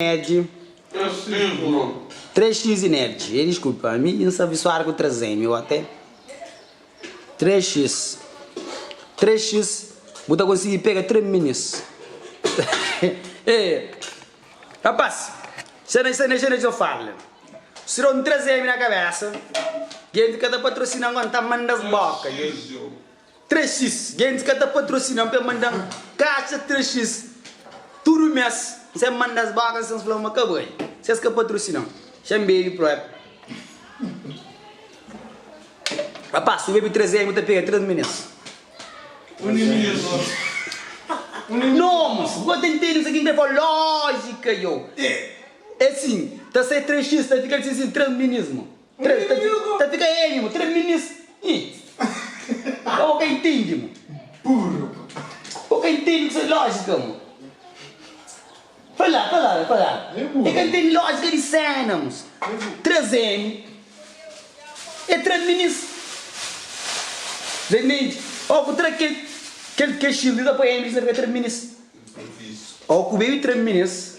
Nerd. Três x e nerd. E desculpa, ami n sa abisuadu ku 3M, eu até. Três x. Três x bu ta konsigi pega três minus. Ei, rapaz, xe na xe na xe na xe fala. Si da un 3M na kabesa, genti ka ta patrosina-m, ka N ta manda-s boka. 3x, Gentis ka ta patrosina-m pa e manda-m kaxa 3x tudu mês sen manda-s bóka sen fla-m ma ka bai. Si es ka patrosina-m, xa N bebe própi. Rapás, si bu bebe 3 N bu ta pega 3 minês. Nomes, Bo ta ntende kuzê ki N krê fla? Lójika, yo. É sin, ta sai 3x ta fika sin-sin 3 minês, ma. Tres minis. Ta fika N mo. Tres minis. Ih. Ka bo ka intindi mo. Burru. Bo ka intindi ku ses lojika mo. Fala, fala, fala. E ka intindi lojika di sena mo. Tres N. E tres minis. Remedi. O ku tra kel, kel, kel xirdi ta poi N di sna fika tres minis. O ku bebi tres minis.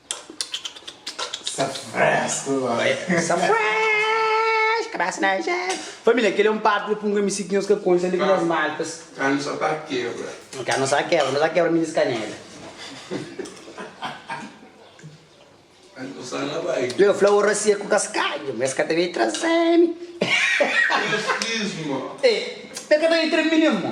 Sa fresco boy. Sa fresh, cabeça na jeito. Família, kel é un parte di Pum Ka Misi ki nhos ka konxe, além di nhos malpas. Karnu sa ta kebra. Karnu sa kebra, nhos a kebra minis kanela. Karnu sa na bai. Leu fla ora sia ku kaskadju, ma es ka ta bai traze-mi. Rasismo. Ê, el ka ta bai tra-mi nen, mo.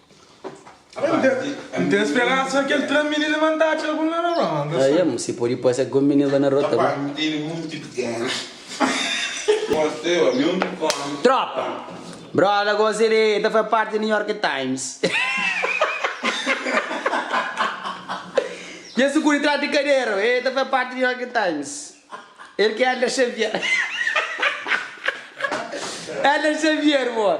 N ten speransa ma kel três mininu é mandá txeu algun la na rónda sô. N si pode pâsia algun mininu la na róta ku. Trópa! Bróda gosi li ta faze párti di New York Times. Dja sigur di trás di kaderu e ta faze párti di New York Times. El ki é Elder Xavier. Elder Xavier, bo!